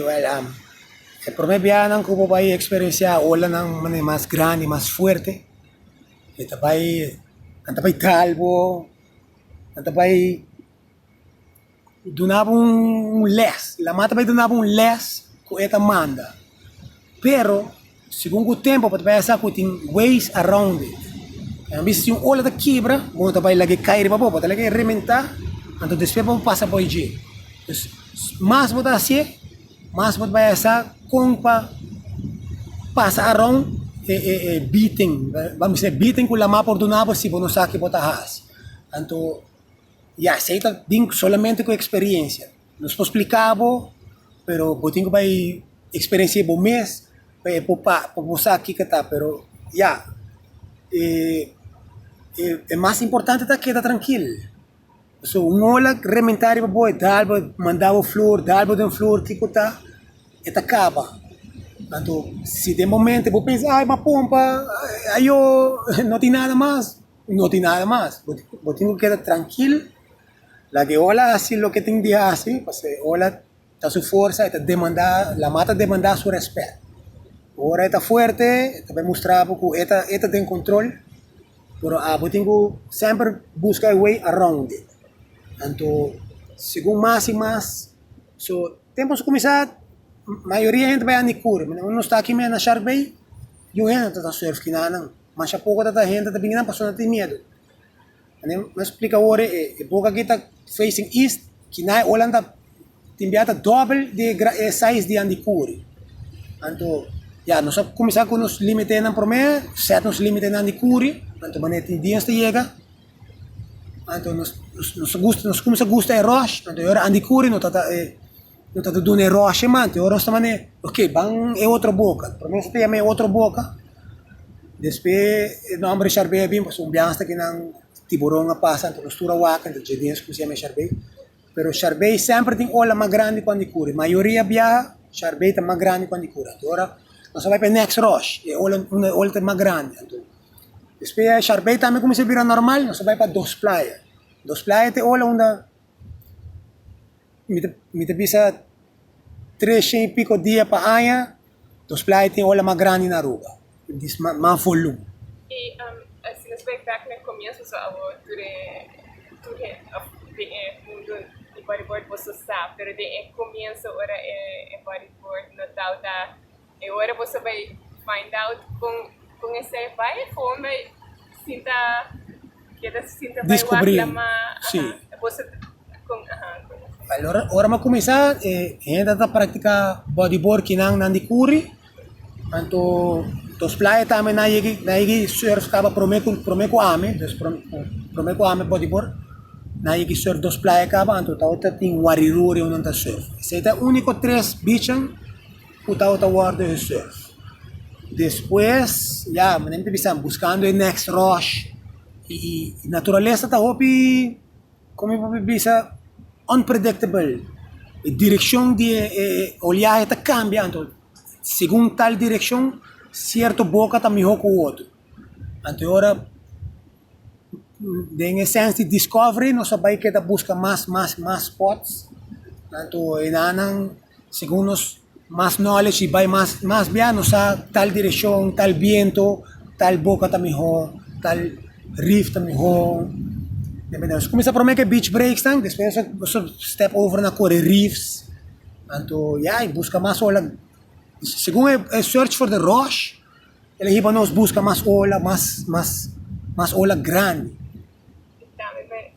Joel Am. E promé biahanan ku bo bai eksperensiá olanan manera mas grandi, mas fuerte, e ta bai, nan ta bai kal bo, nan ta bai duna bo un lès, Laman ta bai duna bo un lès ku e ta manda. Pero Segun ku tempu bo ta bai a sa ku tin ways around it. Bo mester si un ola ta kebra bo no ta bai laga e kai riba bo, bo ta laga e rebentá anto despues pa bo pasa por dje. Dus mas bo ta hasié mas bo ta bai a sa kon pa pasa around e beaten, bo mester e beaten ku lamá por duna bo si bo no sa ke bo ta hasi. Anto ya esei ta bin solamente ku eksperensia. Nos por spliká bo, pero bo tin ku bai eksperensi'é bo mes pa e por pa bo sa kiko ta, pero ya e mas importante ta keda trankil. So un ola rementá riba bo e dal bo, mandá bo flor, dal bo den flor kiko ta e ta kaba. Anto si den momento bo pensa ai m'a pompa, ayo no tin nada mas, no tin nada mas, bo tin ku keda trankil La di ola hasi loke tin di hasi, pasobra e ola ta su forsa, e ta demandá, lamá ta demandá su rèspèt. Ora e ta fuerte, e ta bai mustra bo ku e ta e ta den kontrol, pero abo tin ku semper buska e way around it. Anto segun mas i mas, so tempu so kuminsá, mayoria hende bai handi kuri. Manan ku nos ta aki me na Shark Bay, yu hende ta ta surf kina nan. Masha poko ta ta hende ta bini nan pasobra nan tin miedu. Anem no explica awor e boca aki ta facing east, kina e ola ta tin bia ta double di e size di Andy Curry. Anto ya nos a comenzar con nos límite nan prome, set nos límite nan di Curry, anto mane tin diens ta llega, anto nos nos gusta nos comienza gusta e rush, anto e ora Andy Curry no ta ta e No ta ta duna e ròshia manti ora nos ta manda e, ok, ban e otro boka. Promé nos ta yama e otro boka, despues e nòmber di Sharbae a bin, pasobra un biaha hasta kinan tiburon a pasa, anto nos tur a waka, enta dje bien kuminsá yama Sharbae. Pero Sharbae semper tin ola mas grandi kuandi e kuri. Mayoria biaha Sharbae ta mas grandi kuandi e kuri. Anto ora nos a bai pa e next ròsh, e ola unda e ola ta mas grandi. Anto despues Sharbae tambe kuminsá bira normal, nos a bai pa Dos Playa. Dos Playa ta e ola unda. mi ta mi ta bisa tresha i piko dia pa aña, nos playa tin ola mas grandi na Aruba, di mas volum. E ora boso a bay find out con esey bay gewoon bay sinta keda sinta bay wak la ma ahan boso con ahan con esey. Ora mi a cuminsa e hende a ta practica bodyboard ki nan nan di curi anto nos playa tambe nan yeki nan yeki surf caba prome cu prome cu ami dus prome cu ami bodyboard nan yeki surf dos playa caba anto ta otro tin wariruri unda nan ta surf esey ta unico tres beachnan. Ku tabata wòrdu e surf. Despues, ya, manera mi ta bisa, buskando e next rush. I naturalesa ta hopi, komo mi por bisa, unpredictable. E direkshon di e oleahe ta kambia anto segun tal direkshon sierto boka ta mihó ku utru. Anto e ora, den e sens di discovery, nos a bai keda buska mas mas mas spots. Anto e nannan. Segun nos mas knowledge y bay mas mas bia nos sa tal direccion, tal biento, tal boca ta miho, tal reef ta miho. Nos cuminsa prome ke beach breaks nan despues nos a step over na core reefs. Anto ya y busca mas ola segun e search for the rush el a hiba nos busca mas ola mas mas mas ola grandi.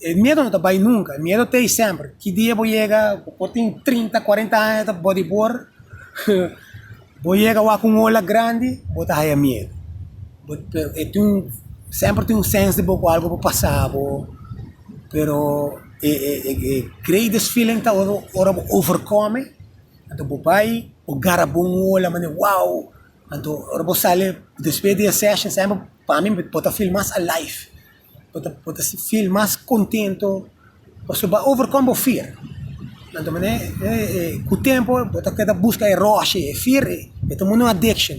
E miedo no ta bai nunka, e miedo ta ei semper, ki dia bo yega, bo por tin trinta, kuarenta aña ta bodibor, bo yega wak un ola grandi, bo ta haya miedo, bo ta e tin un semper tin un sens di bo ku algu por pasa bo, pero e e greatest feeling ta ora ora bo overkome, anto bo bai, bo garabo un ola manera wou, anto ora bo sali despues di e session semper pa mi bo ta feel mas alive. Bo ta bo ta feel mas kontento pasobra bo a overcome bo fear. Na otro manera ku tempu bo ta keda buska e roshi, e fear e ta muri na un addiction.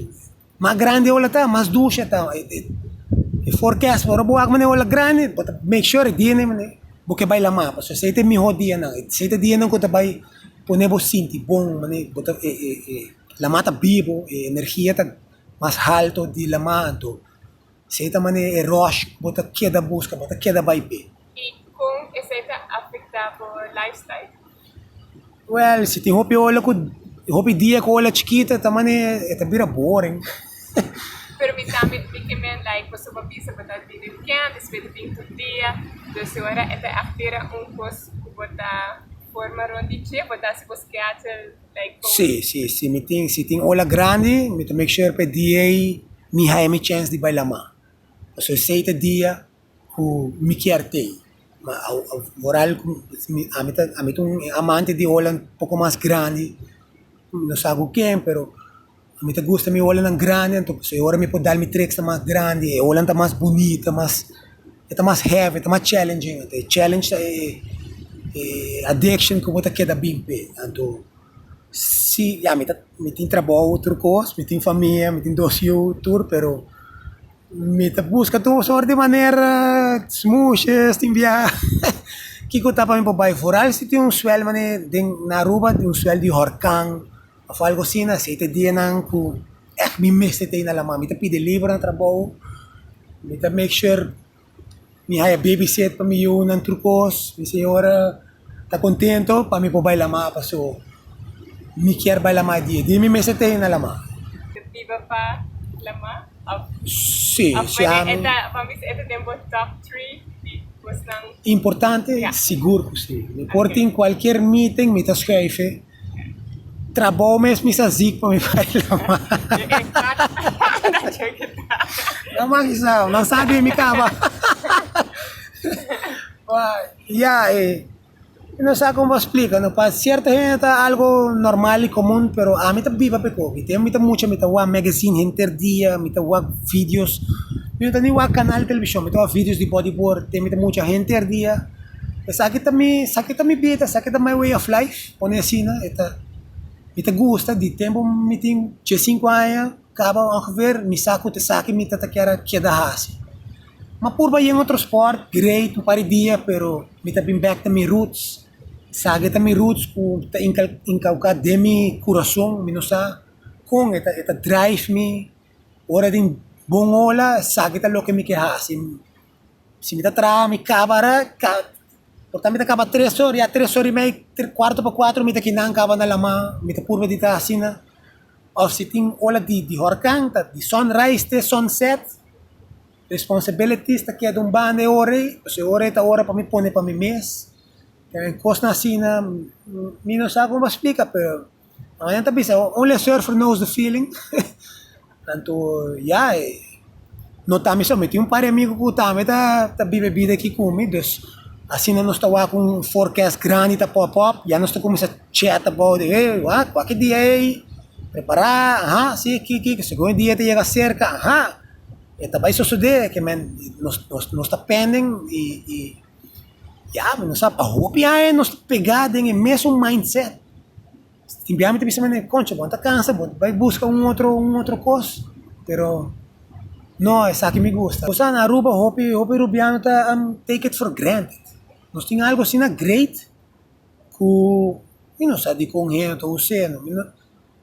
Mas grandi e ola ta mas dushi e ta e forecast ora bo wak manera e ola grandi bo ta make sure e dianan manera bo ke bai lama pasobra esei ta e mihó dianan esei ta e dianan ku ta bai pone bo sinti bon manera bo ta e e e lama ta bibu e energia ta mas haltu di lama anto. si ei ta manera e rush ku bo ta keda buska, bo ta keda bai pe. I kon esei ta afektá bo lifestyle? Wèl, si tin hopi ola ku hopi dia ku ola chikita ta manera e ta bira boring. Pero mi tambe mi ke men like pasobra bo a bisa bo ta bini wikènt i si bo ta bini tur dia, dus e ora e ta afera un kos ku bo ta forma rònt di dje, bo ta hasi bo skeadjel. Sí, sí, si mi tin, si tin ola grandi, mi ta make sure pa e dia ei mi haya mi chens di bai la mar, pasobra esei ta e dia ku mi kier tei. Ma moral ku mi, ami ta, ami ta un amante di ola un poko mas grandi, no sa ku ken, pero. Mi ta gusta mi ola nan grandi anto pasobra e ora mi por dal mi tricks ta mas grandi e olanan ta mas bunit ta mas e ta mas heavy e ta mas challenging anto e challenge ta e e addiction ku bo ta keda bin pa e anto si ya mi ta mi tin trabou otro kos mi tin famia mi tin dos yu tur pero mi ta buska tur sort di manera smoeshes tin bia kiko ta pa mi por bai foral si tin un swel mane den na Aruba tin un swel di hurkan Of algu asina, si ei ta e dianan ku èf mi mester ta i na La Mama, mi ta pidi liber na trabou, mi ta make sure mi haya babysit pa mi yunan tur kos, mi señora ta kontentu pa mi por bai La Mama, so mi kier bai La Mama dia dia mi mester ta i na La Mama. Bo biba pa La Mama? Of si e ta pa mi si e ta den bo top three di kosnan importante? Sigur ku si, mi por tin kualkier meeting mi ta schuife. Trabou mes mi sa zic pa mi bai lama. Nan man sa, nan sa di mi caba. ya, eh. No sa como explica, no pa cierta gente ta algo normal y común, pero a mi ta biba pe cogi. Tem mi ta mucha, mi ta wa magazine henter dia, mi ta wa videos. Mi no ta ni wa canal television, mi ta wa videos di bodyboard, tem mi ta mucha henter dia. Esaki ta mi, saki ta mi bida, saki ta my way of life. Pone asina e ta, mi ta gusta di tempu mi tin dje sinku aña kaba ongeveer mi sa ku ta esaki mi ta ta kier a keda hasi. Mi a purba yen otro sport, great, un par di dia pero mi ta bin bek ta mi roots, sa ke ta mi roots ku ta incal incauca den mi kurason, mi no sa kon e ta e ta drive mi ora den bon ola sa ke ta loke mi ke hasi. Si mi ta traha mi kaba ara, por ta mi ta kaba tres or, ya tres or i mei, kuartu pa kuatru mi ta kinan kaba na lama, mi ta purba di ta asina. Of si tin ola di di hurkan, ta di sunrise te sunset, responsibilities ta keda un banda e ora ei, pues e ora ei ta ora pa mi pone pa mi mes, kosnan asina mi no sa kon pa splika pero. Ahora nan ta bisa, only a surfer knows the feeling. Tanto, ya, no ta mi solo, mi tin un par di amigu cu tambe ta ta bibe bida aki cu mi, dus asina nos ta wak un forecast grandi ta pop up, ya nos ta cuminsa chat about it, hey, wak, wak e dia ey, prepara, aha, si, ki, ki, ki, segun e dia ta yega cerca, aha, e ta bay sucede, kimen, nos, nos, nos ta pending y, y. Ya, mi no sa, pa hopi aña nos ta pegá den e mesun mindset. Tin biaha mi ta bisa, concha, bon ta kansa, bon ta bai buska un otro, un otro kos, pero no, esaki mi gusta. Gosa na Aruba hopi, hopi rubiano ta am take it for granted. Nos tin algu asina great ku mi no sa dikon hende ta us'é.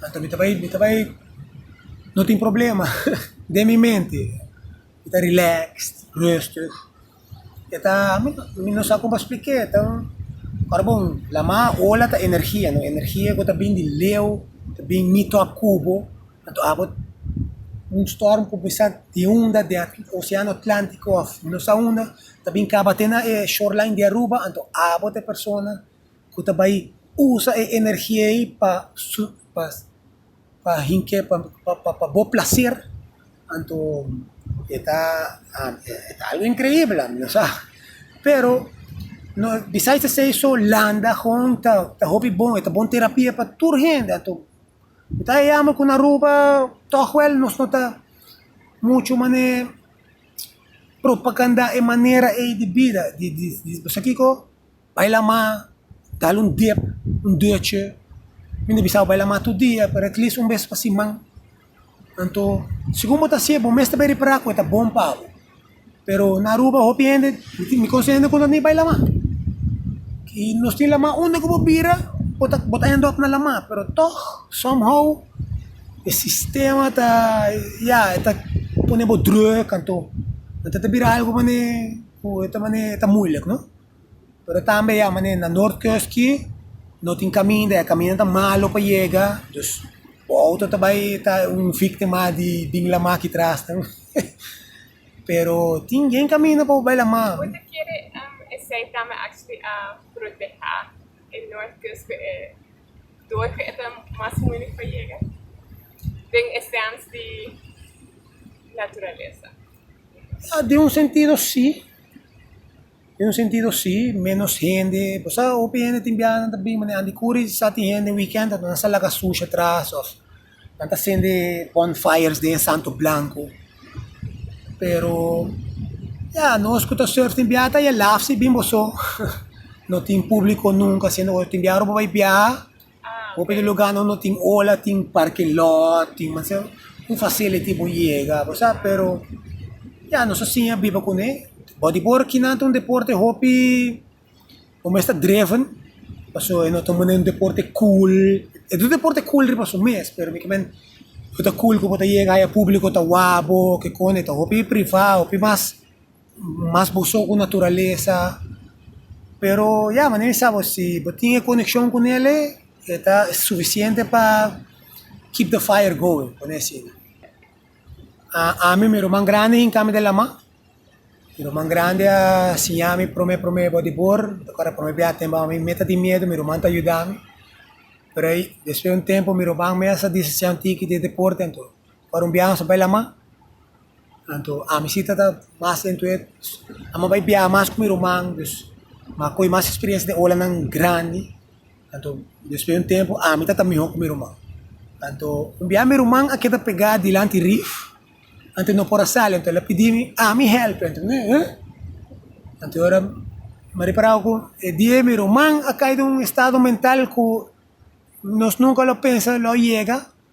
Anto mi ta bai, mi ta bai, no tin problema den mi mente. Mi ta relaxed, rustig. E ta, mi ta, mi no sa kon pa splik'é, ta un, ora bo lama ola ta energia, no? Energia ku ta bin di leu, ta bin meet up ku bo, anto abo un storm ku bisa di unda di Oseano Atlantiko òf mi no sa unda, ta bin kaba te na e shoreline di Aruba, anto abo ta e persona ku ta bai usa e energia ei pa su pa pa hink'é pa pa bo plaser anto e ta algu inkreibel a mi sa pero no bisai ta se eso landa hon ta ta hopi bon e ta bon terapia pa tur hende anto mi ta yama ku na aruba tog wel nos no ta muchu manera propaganda e manera ei di bida di di di di sakico. Bai la ma, dal un dep, un duche. Mi no bisa bo bai la ma tur dia, pero at least un bes pa siman. Anto, segun bo ta hasié, bo mes ta bai repará ku e ta bon pa bo. Pero na Aruba hopi hende, mi konosé hende ku no ta ni bai la ma. I nos tin la ma unda ku bo bira, bo ta bo ta end up na la ma. Pero tòg, somehow, e sistema ta, ya, e ta pone bo drùk, anto nan ta ta bira algu manera ku e ta manera e ta muilik, no? Pero tambe ya manera na North Coast ki no tin caminda, e caminda ta malo pa yega, dus bo auto ta bay ta un victima di bin lama aki trasnan, pero tin bien caminda pa bo bay lama. Ya den un sentido si. Den un sentido si, menos hende, bo sa hopi hende tin biaha nan ta bin ma den Andy Curry's sa tin hende weekend ta nan sa laga sushi atras of nan ta sende bonfires den Santo Blanco pero ya nos cu ta surf tin biaha ta ya laf si bin boso no tin publico nunca siendo boso tin biaha ora bo bay biaha Hopi di lugar no tin ola tin parking lot tin manera un facility por yega bo sa pero ya nos a siña biba con e but di por aquí nan ta un deporte hopi bo mes ta driven pasobra e no ta manera un deporte cool e ta un deporte cool riba su mes pero mi kimen no ta cool como ta yega aya publico ta wak bo kikos ta hopi privado hopi mas mas busou ku naturalesa, pero ya manera mi sa bo si bo tin e konekshon ku nele e ta sufisiente pa keep the fire going, pone asina, ami mi ruman grandi hinka mi den laman, mi ruman grandi a siña mi prome prome bodibor, mi ta akorda prome biaha tempo ami me ta tin miedu mi ruman ta yuda mi, pero despues di un tempo mi ruman mes a disa siña un tiki di deporte anto. Ora un biaha nos a bai lama, anto ami si ta ta mas den tuet, amo a bai biaha mas ku mi ruman, dus mi a kohe mas spiriensia den olanan grandi, anto despues un tempu ami ta ta miho ku mi ruman. Anto un biaha mi ruman a keda pega dilanti rif, anto no por a sali, anto el a pidi mi ami hèlp, anto mi eh, anto ora mi a repará ku e dia mi ruman a kai den un estado mental ku nos nunka lo pensa lo yega.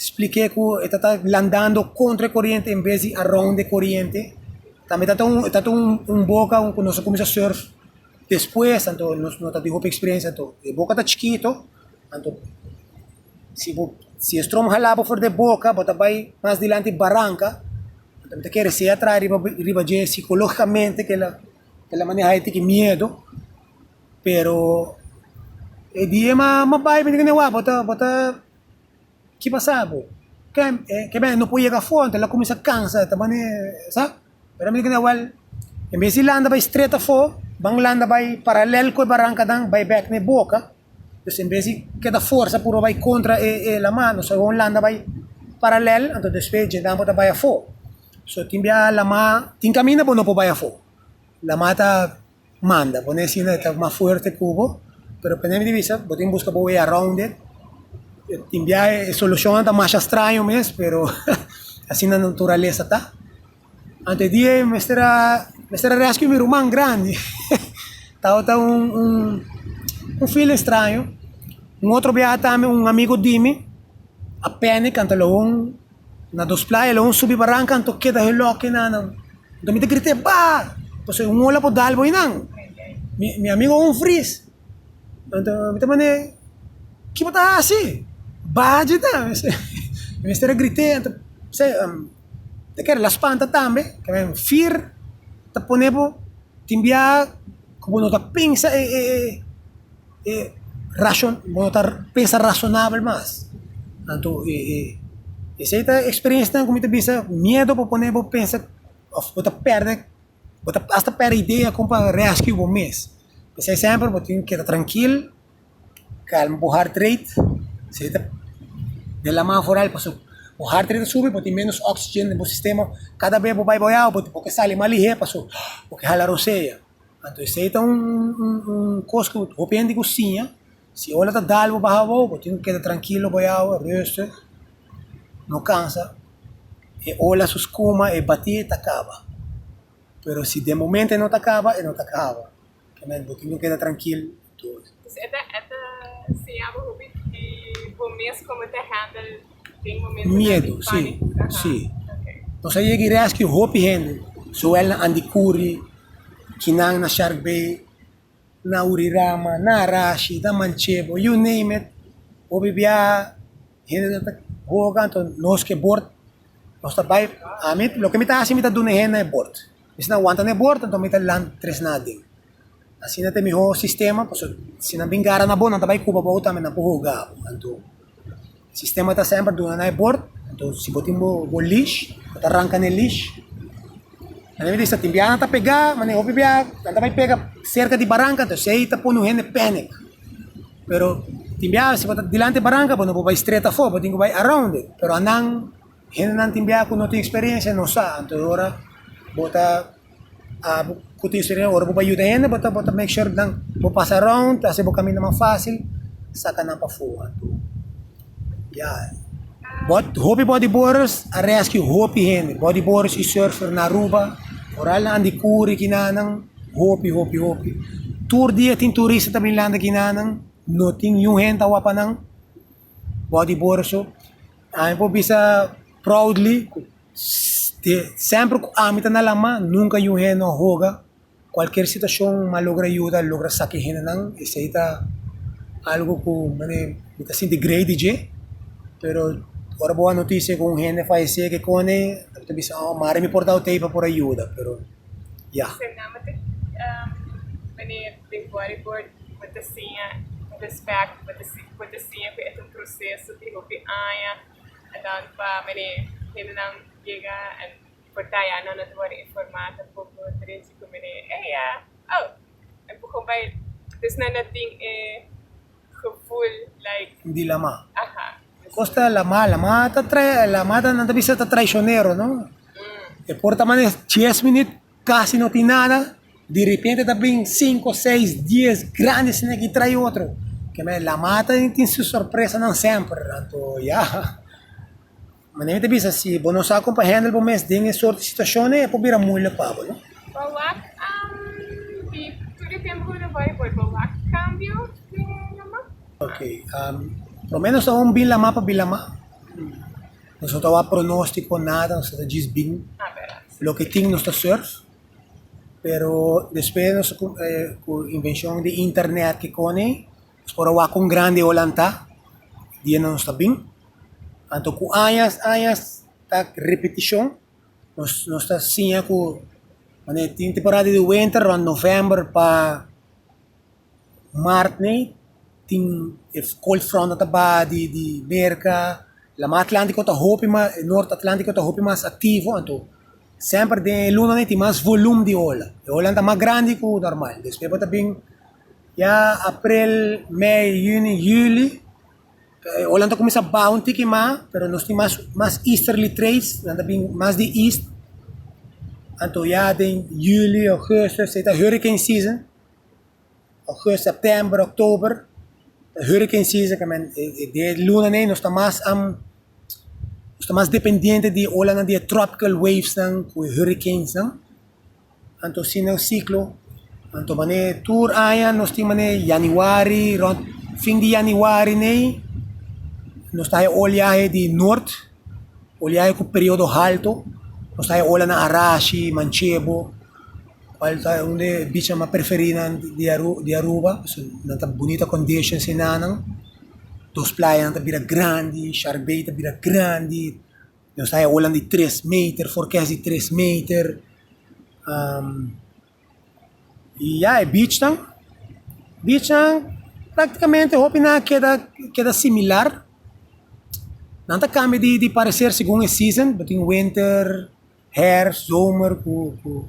Splik'é ku e ta ta landando kontra e koriente en bes di around e koriente. Tambe ta ta un, ta ta un boka ku nos a kuminsá surf despues, anto nos no ta tin hopi eksperensia. Anto e boka ta chikito, anto si bo, si e strom hala bo for di e boka, bo ta bai mas dilanti baranka. Anto mi ta kere sea traha riba, riba dje sikológikamente ku el a, ku el a manehá e tiki miedu. Pero e di e ma, ma bai bo ta. Ki pasa bo? Ke bende no por yega afo anto el a kuminsá kansa, e ta bani sa. Pero mi di kende, wèl, en bes di landa bai stret afo, ban landa bai paralèl ku e barankanan, bai bèk na e boka. Dus en bes di keda forsa puru bai kontra e laman, nos ta bon landa bai paralèl, anto despues djentnan por ta bai afo. So tin biaha laman, tin kaminda bo no por bai afo. Laman ta. Manda, bo ne sinda e ta mas fuerte cu bo, pero pa neme di bisa bo tin busca bo way around it, tin bia e solucionnan ta masha straño mes, pero asina naturalesa ta. Ante e dia yo mester a mester a rescue mi ruman grandi, tabata un un un feeling straño, un otro biaha tambe un amigo di mi a panic anta lo un. Na dos playa lo un subi baranca anto keda he loke e nanan. Anto mi ta grita epa! Paso un ola por dal bo einan. Mi, mi amigo un vries. Anto mi ta mande, ki bo ta haci? Baha dje ta. Mi mester a grite, anto p'sei ta kere la spanta tambe. Ta kere fier ta pone bo tin biaha cu bo no ta pensa e, e, e. e rashon bo ta pensa rashonabel mas anto e e esei ta eksperensianan ku mi ta bisa miedo por pone bo pensa òf bo ta pèrdè bo ta asta pèrdè idea kon pa rèskio bo mes p'esei sèmper bo tin keda trankil kalma bo hart reit esei ta den laman afural pashopi bo hart reit ta subi bo tin ménos oksigen den bo sistema kada bes bo bai boiao bo ke sali mas lihé pasobra bo ke hala rosea. Anto esei ta un kos ku hopi hende ku siña, si e ola ta dal bo baha abou, bo tin ku keda trankilo bo yawe, ruster, no kansa, e ola su skuma, e batí ta kaba, pero si den momento e no ta kaba, e no ta kaba, bo tin ku keda trankil. done. Pues e ta e ta siña bo hopi di bo mes como ta handle den momentonan di Miedo, si, panico. Aha. si. Okay. Nos a yega y rescue hopi hende, zowel na Andikuri, kinan na Shark Bay, na Urirama, na Arashi, na Manchebo, you name it, hopi bia hende ta ta hoga, anto nos ke bord, nos ta bai, a mi, loke mi ta hasi, mi ta duna e hende e bord. Esnan wanta na e bor, anto mi ta land tres naden. Asina ta e miho sistema, paso si nan bin gara na bo, nan ta bai kuba bou tambe, nan por hoga bo. Anto, e sistema ta semper duna na e bor, anto si bo tin bo leash, bo ta ranka na e leash, nan debe di sa tin biaha nan ta pega, mane hopi biaha nan ta bai pega serka di baranka, anto esei ta pone un hende panic. Pero tin biaha si bo ta dilanti e baranka, bo no por bai stret afó, bo tin ku bai around it, pero anan, Hendenan tin biaha ku no tin eksperensia, no sa. Anto ora bo ta aba ku tin eksperensia, ora bo bai yuda hende, bo ta bo ta make sure nan bo pasa around, hasi bo kaminda mas fásil, saka nan pafó. Anto ya, bòt hopi bòdiborders a rèskiu hopi hende, bòdiborders i sùrfer na Aruba, koral na Andikuri, kinanan, hopi, hopi, hopi. Tur dia tin turista ta bin lanta kinanan, no tin yun hende ta wòp pa nan. bou di borso, ami por bisa proudly ku semper ku ami ta na La Mar nunka yu hende no a hoga, kualker situashon mi a logra yuda, a logra saka e hendenan, esei ta algu ku mi ta sinti grei di dje, pero ora bo hoba noticia ku un hende a falese kikoni bo ta bisa oh mari mi por dau tei pa por a yuda, pero ya. Den bodyboard bo ta siña respect bo ta bo ta siña ku e ta un proseso di hopi aña andan pa mene hendenan yega and por ta ya nan no ta wòrdu informá tampoco ta den chitu mene eya oh empuhon bai dus nan no tin e gevoel like di lamá aha kos ta lamá lamá ta trai lamá nan ta bisa ta traicionero no e por ta mane dies minüt Casi no tin nada, di repente ta bring cinco, seis, diez grandi snake y trai otro. Ke manera La Mata tin su sorpresanan semper, anto ya. Manera mi ta bisa si bo no sa con pa handle bo mes den e soorte situacionnan e por bira moeilijk pa bo, no? Bawak di tur e tempo cu lo bay boe bawak cambio den La Mata? Ok, por lo menos aun bin La Mata pa bin La Mata. Nos no ta wak pronostico nada, nos ta djis bin. Ah, verdad. Loke tin nos ta surf pero despues nos ku invenshon di internet ki kone nos por a wak kon grandi ola ta di e nos ta bin anto ku añas añas ta repetishon nos ta siña ku tin temporada di winter rond november pa. Martne tin e cold front nan ta ba di di Merca, Lama Atlantico ta hopi mas, North Atlantico ta hopi mas activo, anto semper den e luna tin mas volum di ola, e ola nan ta mas grandi cu normal, despues bo ta bin ya April, May, Juni, Juli ta e ola nan ta cuminsa baha un tiki mas, pero nos tin mas mas easterly trades, nan ta bin mas di east, anto ya den Juli, Augustus esei ta hurricane season. August, September, October ta hurricane season ka men e de lunanan nos ta mas nos ta mas dependiente di e olanan di e tropical waves nan ku e hurricanes nan anto si nan ciclo anto manera tur aña nos tin manera Januari rond fin di Januari ne nos ta haña olhahe di norte. Oliahe ku periodo haltu, ku sa e olanan a rashi, manchebo, kual ta un di e bichanan mas preferinan di Aruba, pasobra nan ta bunita kondishon si nannan, dos playanan ta bira grandi, shark bay ta bira grandi, nos ta e olanan di tres meter, forkes di tres meter. Y ya e bichnan, bichnan prácticamente hopi nan a keda, keda similar. Nan ta cambia di, di parecer segun e season, bo tin winter, herfst, zomer cu, cu.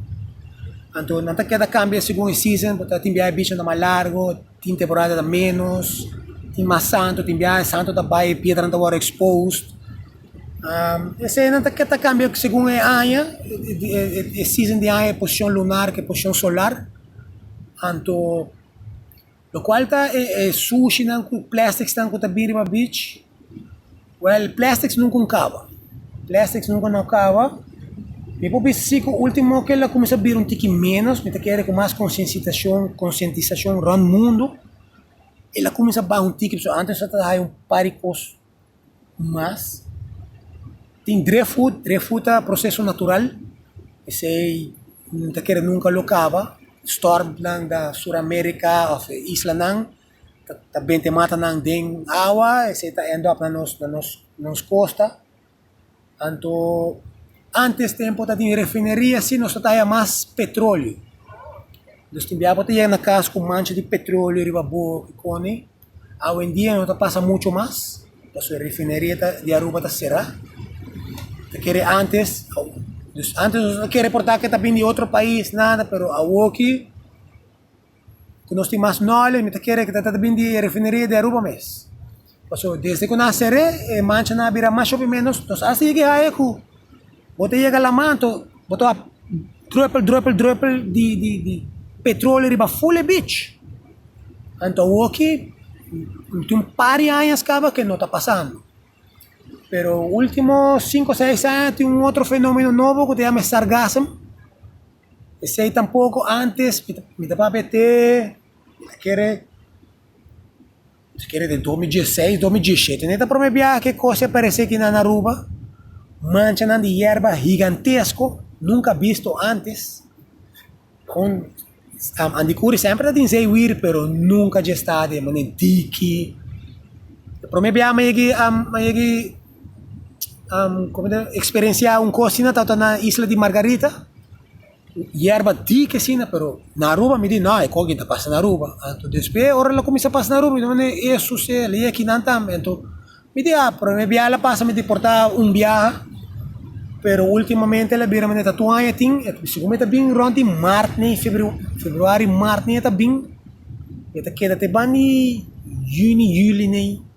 Anto nan ta keda cambia segun e season, bo ta tin biaha e bichnan ta mas largo. Tin temporada ta menos, tin mas santo, tin biaha e santo ta bai, e piedranan ta wòrdu exposed. Esei nan ta ta kambia segun e aña, e season di aña, e posishon lunar ku e posishon solar. Anto, lokual ta e sushinan ku plèstiksnan ku ta bin riba bich. Well plastics nunca un caba plastics nunca no caba mi por bisa si cu ultimo cu el a cuminsa bira un tiki menos mi ta kere cu mas consiencisacion conscientisacion rond mundo el a cuminsa baha un tiki pasobra antes nos a ta haya un par di cos mas tin dre food dre food ta proceso natural esey mi no ta kere nunca lo caba store nan da sur america of isla nan. ta ta bente mata nan den awa, esei ta end up na nos na nos na nos kosta. Anto antes tempu ta tin refineria si nos ta haya mas petrolio. Nos tin biaha por ta yega na kas ku mancha di petrolio riba bo i koni. Awendia no ta pasa muchu mas, paso e refineria ta di Aruba ta sera. Ta kere antes, antes nos no ta kere por ta ke ta bini di otro pais nada, pero awoki ku nos tin mas nòle, mi ta kere ku ta trata bini di e refineria di Aruba mes. Paso desde ku nan a ser'é, e manchanan a bira mas shopi ménos, nos asta yega e haya ku bo ta yega laman anto bo ta wak drùpel drùpel drùpel di di di petrolio riba ful e bich. Anto awoki mi tin un par di añas kaba ku e no ta pasando. Pero último sinku seis aña tin un otro fenomeno nobo ku ta yama e sargasem. Esei tampoco antes mi ta papia te mi ta kere mi ta kere den dos mil dieseis dos mil dieshete n'e ta prome biaha ke kos a parese aki na Aruba manchanan di yerba higantesko nunca bisto antes con andikuri semper ta tin zeewir pero nunca dje sta de manera diki prome biaha mi a yagi. experiencia un cos asina tawata na isla di Margarita, yerba dic asina pero na Aruba mi di no e cos ta pasa na Aruba, anto despues ora lo cuminsa pasa na Aruba mi di mane esus e ley aki nan tambe, anto mi di ah prome biaha lo pasa mi di porta un biaha pero ultimamente lo bira mane ta two aña tin e ta segun mi ta bini rond di marti ni februari marti ni e ta bini mi ta keda te bandi juni juli ni.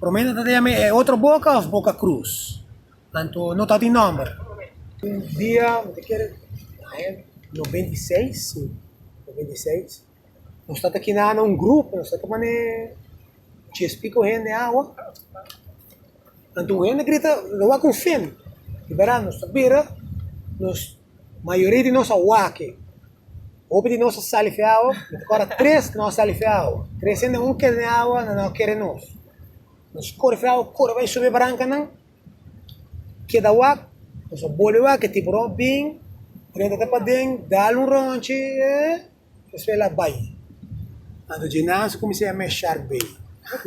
Prome nan ta dea mi e otro boka of boka cruz? Anto no ta tin nomber. Un dia mi ta kere aña noventa i seis si noventa i seis nos ta ta kina na un grupo nos ta ta pone chespi ku hende awa anto un hende grita lo wak un fin di bera nos ta bira nos Mayoria di nos a wake. Hopi di nos a salife awa, mi ta kora tres no a salife awa. Tres hende un kere den awa nan no a kere nos. Nos korfe awa kore bai sube barankanan, keda wak, nos a bolbe wak e tiburon a bin, prenta ta paden, dal un ronchi, eh. Despues el a bai. Anto Djinazo kumins'é a meshar bey.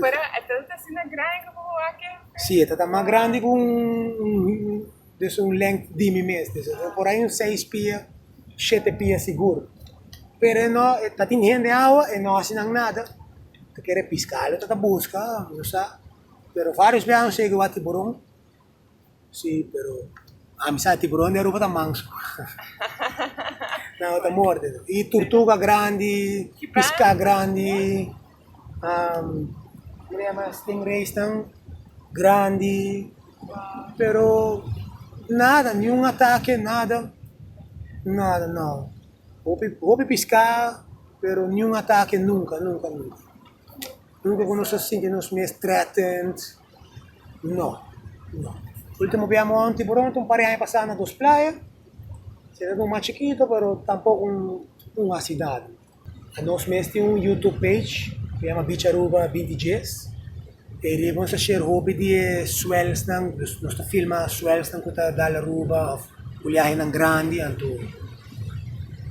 Pero e tata ta asina grandi ku bobo aki? Sí, e ta ta mas grandi ku un des un length di mi mes, des ta por ahí un seis pia, shete pia sigur. Pero e no, e ta tin hende awa, e no hasi nan nada, ta kere piskalo e ta ta buska, no sa. Pero varios bia año segu e wak tiburon, Sí, pero ami sa tiburon di Aruba ta manso. Nan lo ta morde no. Y turtuga grandi, pisca grandi, como se llama, stingrays nan grandi, pero nada, ni un ataque, nada, nada no. Hopi pisca, pero ni un ataque nunca, nunca, nunca. Purba ku nos a sinti nos mes threatened? No. No. Ultimo bia amo anti Boronto, un par di aña pasá na dos playa. Si ta un mas chikito, pero tampok un un hasi dadu. Nos mes tin un YouTube page ku yama Beach Aruba binti djes. Ei riba nos a share hopi di e swelsnan, nos ta filma swelsnan ku ta dal Aruba, òf buliahinan grandi anto.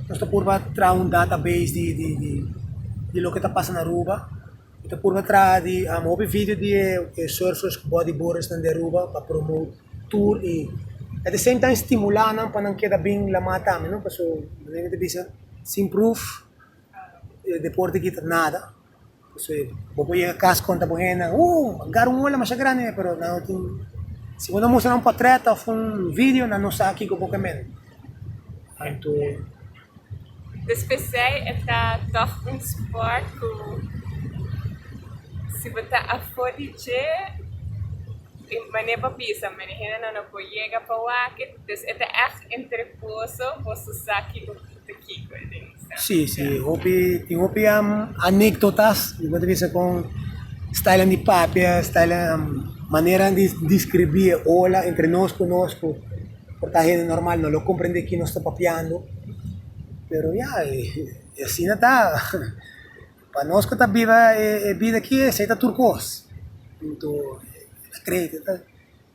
nos ta purba traha un database di di di di loke ta pasa na Aruba, ta purba traha di hopi video di e surfers ku bodyboardersnan di Aruba pa promote tur i at the same time stimula nan pa nan keda bin la mata ami no paso mi ta bisa sin pruf e deporte aki ta nada. Pasobra bo por yega kas konta bo hendenan, oh, a gara un ola masha grandi, pero nan no tin, si bo no mustra nan un potret of un video, nan no sa kiko bo ke mende. Anto, Despesei e ta tòg un sport ku si bo ta afó di dje e manera bo bisa mende hendenan no por yega pa wak it, entonces e ta ègt entreposo boso sa kiko Sí, sí, hopi, tin hopi anéctotas, bo pueda bisa con stijlan di papia, stijlan, maneran di describí e ola entre nos cu nos cu por ta hende normal no lo comprende ki nos ta papiando. Pero ya, y asina ta. Pa nos cu ta biba e bida aki esei ta tur cos. Punto, ta crea, ta.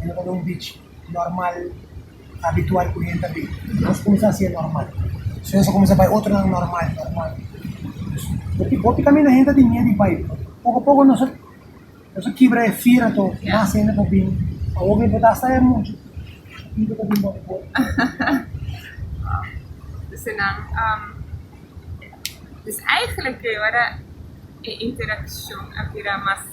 e no ta bay un beach normal, habitual cu hende ta bay. Nos cuminsa haci e normal. So nos a cuminsa bay otronan normal, normal. Bo tin caminda hende ta tin miedu di bay. Poco a poco nos a kibra e fear anto, mas hende por bin. Awo mi por ta hasta e mucha pipia por bin bota for. Entonces nan, dus eigenlijk, wada, e interaccion a bira mas.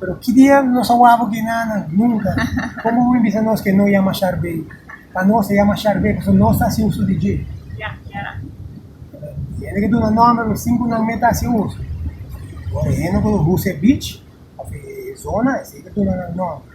Pero ki dia nos a wak bo Guinana? Nunka! Como bo mi bisa nos ke no yama Sharbey? Pa nos e yama Sharbey pasobra nos ta hasi uso di dje. E hende ke duna nòmber lo sinku nan me ta hasi uso. Ora e hende no konosha huse e beach of e zona esei ta duna nan nòmber.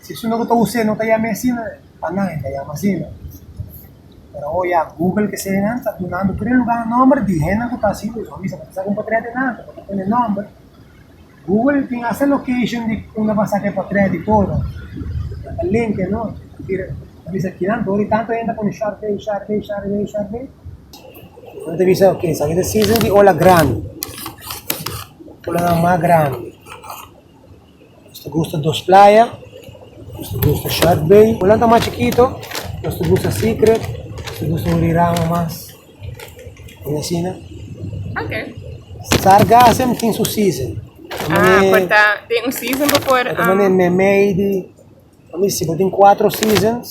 Si su no ku ta us'é no ta yam'é asina, pa nan e ta yama asina. Pero oye a Google kese nan ta dunandu tur e lugá nòmber di hende ku ta hasi uso. Bo bisa, bo ta sa ku un potrèt di nan ta, bo ta pone nòmber. Google tin hasta location di unda bo a saka e potrèt i todo. E ta linka e nòmber. E bira, ta bisa kinan tur e tantu hende a pone Sharpay, Sharpay, Sharpay, Sharpay. Bo ta bisa, ok, esaki ta season di ola grandi, ola nan mas grandi. Nos ta gusta dos playa, nos ta gusta Shark Bay. Cu nan ta mas chikito, nos ta gusta Secret, nos ta gusta un rirama mas. Tin asina. Ok. Sargassem tin su season. Ah, por ta den un season pa por. Ta mane mei di. Pa mi si bo tin cuatro seasons.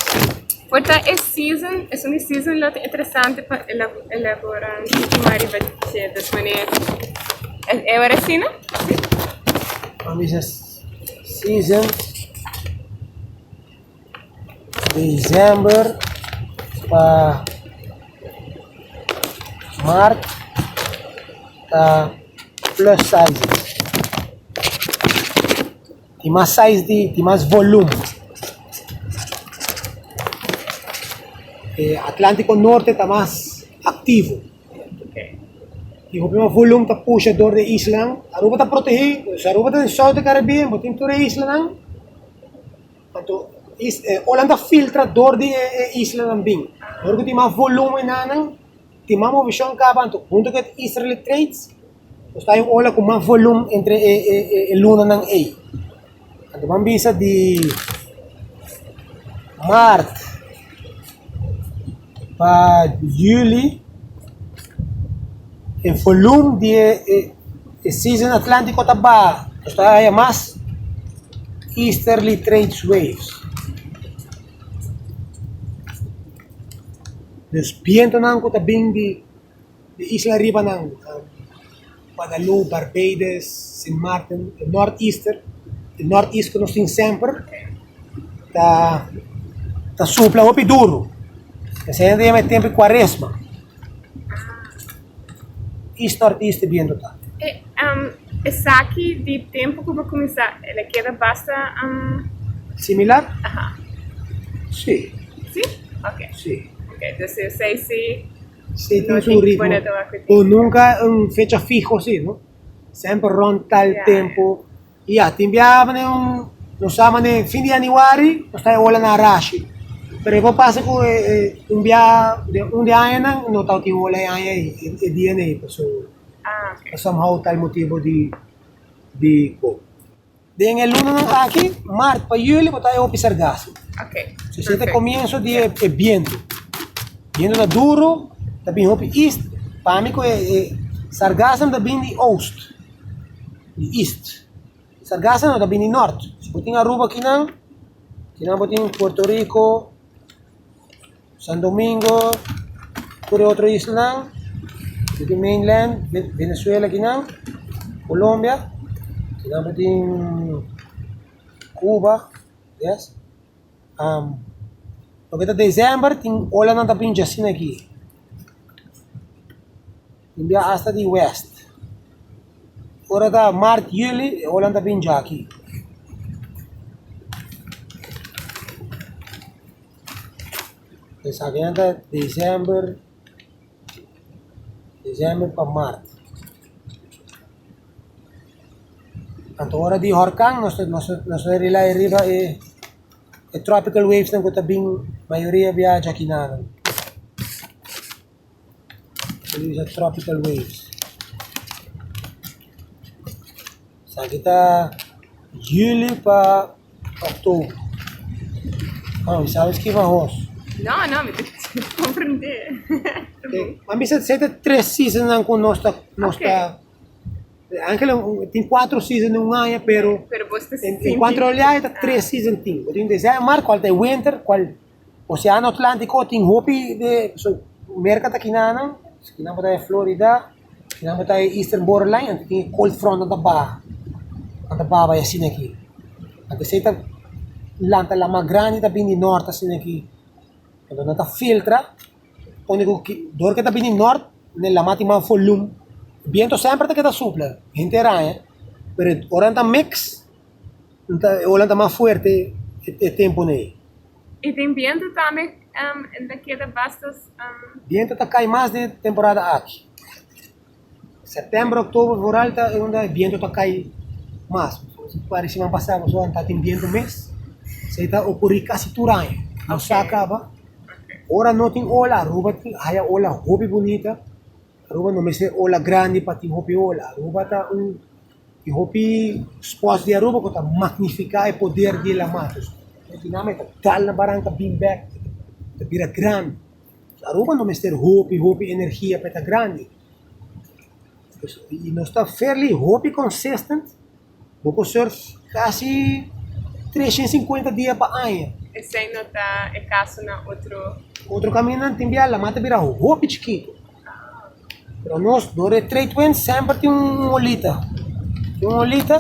Por ta e season, esun di season lo ta interesante pa elabora suma riba ciertos maneras. Es e ora asina? Si? Pa mi sa seasons december pa mart ta plus sizes. Tin mas size di tin mas volum. E Atlantico Norte ta mas activo. Tin hopi mas volum ta pusha door de islanan. Aruba ta protehi, si Aruba ta den South de Caribbean bo tin tur e islanan. Anto is e ola nan ta filtra door di e islanan bin. Door cu tin mas volum enanan Tin mas movishon kaba anto. Huntu ku e easterly trades, nos ta ein ola ku mas volum entre e lunanan ei. Anto bo a bisa di Maart pa Juli, e volum di e season Atlantiko ta baha. Nos ta haya mas easterly trades waves. des bientonan ku ta bin di di isla aribanan, Guadeloupe, Barbados, Sint Maarten, e Nort Easter, e Nort East ku nos tin semper ta ta supla hopi duru, esei ta yama e tempo di kuaresma. East artista e biendo ta. Esaki di tempu ku bo kuminsá el a keda basta. Similar? Sí. Sí? Ok. Sí. Ok, entonces si esei sí, Sí, tin su ritmo. Bueno, te wak ku tin. Pero nunka un fecha fiho así, no? Semper rònt tal tempu. Y ya, tin biaha manera un, nos sa manera e fin di Januari nos ta e ola na Arashi. Pero e por pasa cu e, e, un biaha den un di añanan no tawat tin ola e aña ei, e, e dia nei, paso ta somehow ta el motibo di, di bo. Den e lunanan aki, mart pa juli, bo ta e hopi sergasi. So esei ta e comienzo di e, e bientu. Bientu ta duro, ta bin hopi east, pa mi cu e, e sargasnan ta bin di oost. di east. E sargasa no ta bini nort. Si bo tin Aruba kinan, kinan bo tin Puerto Rico, San Domingo, tur e otro islanan, bo tin mainland, Venezuela kinan, Colombia, kinan bo tin Cuba, yes. Um, loke ta December tin olanan ta pincha asina aki. Tin bia asta di west. Ora ta mart juli e onan ta bin jaki. Esaki nan ta december december pa mart. Anto ora di horkan nos ta nos ta nos ta rely riba e e tropical waves nan ku ta bin mayoria bia jakinano. Por usa tropical waves. Esaki ta juli pa oktobro. Ah, mi sabi skirbi ahos. No, no, mi ta comprende. Ma mi sa sa ta tres seasons nan ku nos ta nos ta Angela tin cuatro seasons den un aña pero Pero bos ta en sinti. en cuanto a olhada ta tres seasons tin. Bo tin desember, cual ta e winter, cual Oseano Atlántiko tin hopi de su merka ta kinanan, kinan por ta e Florida, kinan por ta e Eastern Borderline, anto tin e cold frontnan ta baha, nan ta baha bai asina aki. Anto esei ta lanta la mas grandi ta bini di nort asina aki, anto nan ta filtra, pone ku ki dor ke ta bini di nort na e lama tin mas volum, biento semper ta keda supla, henter aña, pero ora nan ta mix Holland ta mas fuerte e tempo ne. E tin bientu tambe en ta keda bastos. Bientu ta cay mas den temporada aki. September, october vooral ta unda e bientu ta cay mas. Pare siman pasa bo so anta tin bientu mes. Esey ta ocuri casi tur aña. Nos sa caba. Ora no tin ola Aruba tin haya ola hopi bunita. Aruba no mester ola grandi pa tin hopi ola. Aruba ta un. E hopi spòts di Aruba ku ta magnifiká e poder di e lamatos. Suriname ta kal na baranka bim bèk, e ta bira grandi. Aruba no mester hopi hopi energia pa e ta grandi. Y nos ta fairly hopi consistent, bo ku sort kasi tres shen sinkuenta dia pa aña. Esei no ta e kaso na otro. Otro kaminda tin biaha lamato bira hopi chikitu. Pero nos dor e trade wind semper tin un olita, tin un olita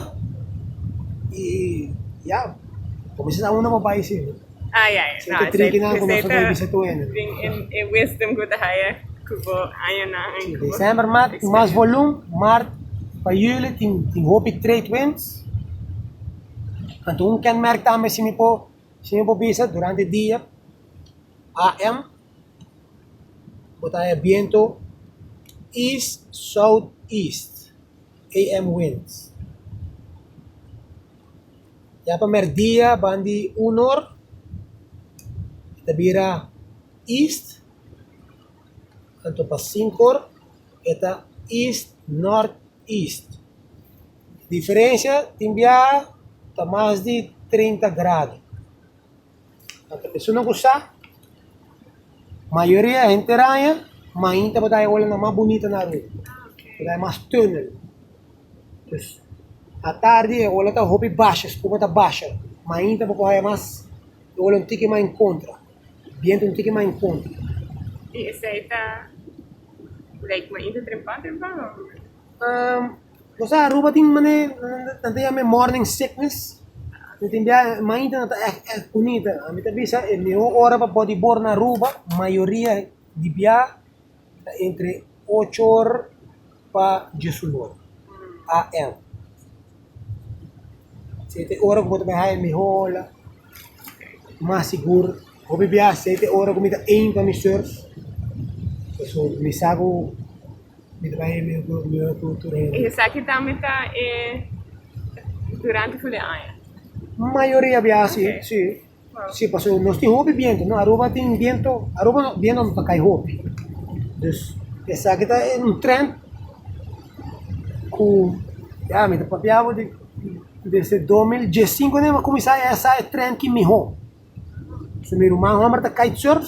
y ya, por mi sa uno por bay sin, Ah, ya, ya. sin No, te esei, trikinan ku nos esei ta bay bisa tu hende. tin e, e wisdom ku ta haya ku bo añanan en ku bo December mat tin mas experiencia. volum, mart pa juli tin tin hopi trade winds, anto un kenmerk tambe si mi por si mi por bisa durante dia am. Bo ta haña bientu east-southeast, AM winds. Ya pa mèrdia banda di un or e ta bira east, anto pa sinku or e ta east-northeast. Diferensia tin biaha ta mas di trinta grado. a ta esunnan ku sa mayoria henter aña mainta por ta e olanan mas bunita na aruba por ta e mas tunnel dus atardi e ola ta hopi basha spuma ta basha mainta bo por haya mas e ola un tiki mas en kontra bientu un tiki mas en kontra esei ta mainta trempa trempa. Nos a Aruba tin manera nan ta yam'e morning sickness, mi tin bia mainta nan ta eh eh kunita, a mi ta bisa e miho ora pa body bor na Aruba mayoria di bia ta entre ocho or pa dies un or AM, si e ta e ora ku bo ta biaha e miho ola mas sigur. Hopi bia asey te ora ku mi ta ein pa mi surf, pasobra ku mi sa ku mi ta bai e mihor kultura, mihor kultura hende. Y esaki tambe ta e durante kule aña? Mayoria bia si, si, si, pasobra nos tin hopi biento, no, Aruba tin biento, Aruba no, biento no ta kai hopi, dus esaki ta un trend ku, ya mi ta papia bo di Desde dos mil dies sinku mi a kuminsá e hesá e tren ki mihó. So mi ruman hòmber ta kitesurf,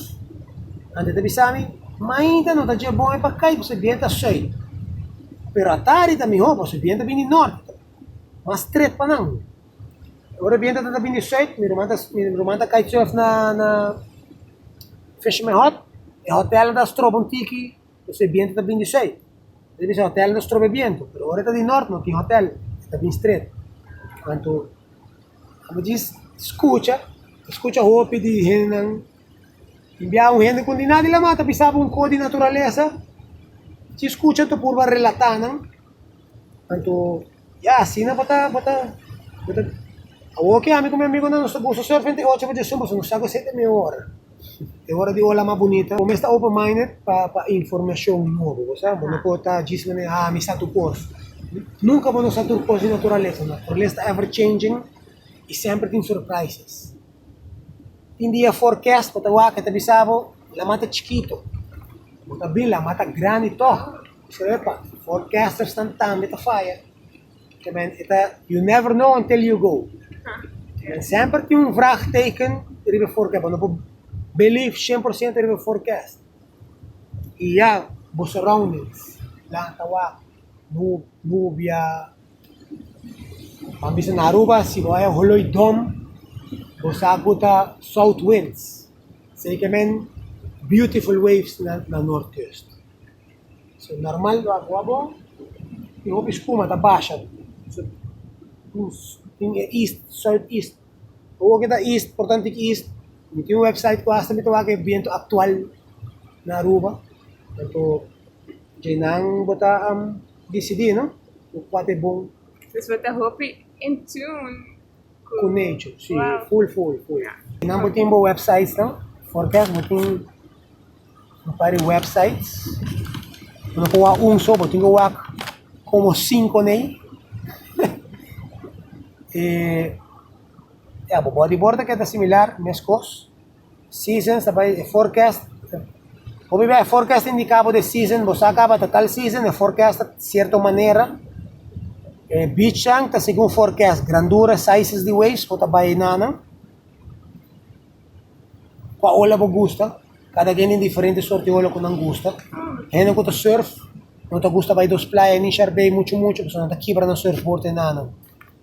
anto e ta bisa mi, Mainta no ta dje bon e pa kite pasobra e bienta sùit. Pero atari ta mihó pasobra e bienta ta bini di nòrti, ta mas stret pa nan. Ora e bienta ta ta bini di sùit, mi ruman ta mi ruman ta kitesurf na na Fisherman Hut, e hotèlnan ta stroba un tiki. Entonces e bientu ta bin di sui. Nos a bisa hotel no strobe bientu, pero ora e ta di nort no tin hotel, e ta bin stret. Anto, amo djis scucha, a scucha hopi di hendenan, tin biaha un hende cu di nadi la mas ta bisaba un coh di naturalesa, djis scucha anto purba relata nan, anto. Ya asina bo ta bo ta bo ta Awor ki ami ku mi amigunan nos ta gusto surf henter e ocho bos di sumber so nos sa ku esei ta e mihó ora. E ora di ola mas bunita. Bo mes ta open minded pa pa informashon nobo, bo sa, bo no por ta djis manera ha mi sa tur kos. Nunka bo no sa tur kos di naturalesa, naturalesa ta ever changing i semper tin surprises. Tin dia forecast bo ta wak e ta bisa bo laman ta chikito, bo ta bin laman ta grandi tog. Epa, for casters nan tambe ta faya. Ke men eta you never know until you go. Men semper tin un vraagteken riba forecast. Bo no por believe 100% riba forecast. I ya, bo surroundings, planta wak, nu- nubia. Nan bisa na Aruba si bo haya holoi dom, bo sa ku ta south winds. Esei ke men beautiful waves na North Coast. So normal lo awa bon y hopi spuma ta basha so nos tin e east south east awo ke ta east por tanto tin east mi tin un website ku hasta mi ta wak e biento actual na Aruba tanto dje nan bo ta disidi no kual ta e bon. Kunechu, si, ful ful ful. Nan bo tin bo websites nan? Orkes bo tin un par di websites. Bo no por wak un so, bo tin ki wak komo sinko nei. e ya, bo bodyboard ta keda similar, meskos. Seasons ta bai e forecast. Hopi bia e forecast ta indica bo de season, bo sa caba ta tal season, e forecast ta cierto manera. E beachang ta segun forecast, grandura, sizes di waves bo ta bai na nan. Cua ola bo gusta, cada gen tin diferente soort di ola cu nan gusta. E hende cu ta surf no ta gusta bai dos playa ni Shark Bay mucho mucho pasobra nan ta kibra nan surfboard enanan.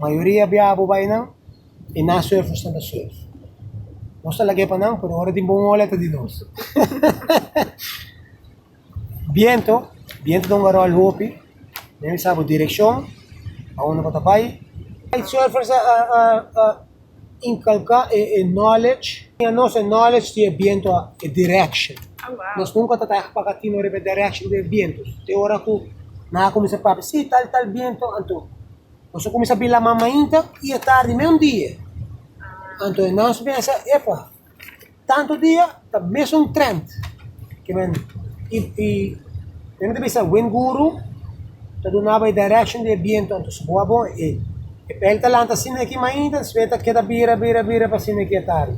Mayoria biabu bai nan e na surf nos tambe surf. Nos ta lag'é pa nan pero ora tin bon ola e ta di nos. biento, biento ta un garòl hopi, men mi sa bo direkshon pa unda bo ta bai. Kitesurfers a a a. inculca e e knowledge tin a nos e knowledge tin e bientu a e direction nos nunca ta ta paka tino riba e direction di e bientu te ora ku nan a kuminsa papia si tal tal bientu anto nos a kuminsa bila mamainta i e tardi me un dia anto nos mester epa Tantu dia ta mesun trend ke men i i men ta bisa wind guru ta dunaba e direction di e bientu anto su boa bon e e pel ta lanta asina aki mainta despues e ta keda bira bira bira pa asina aki e tarde.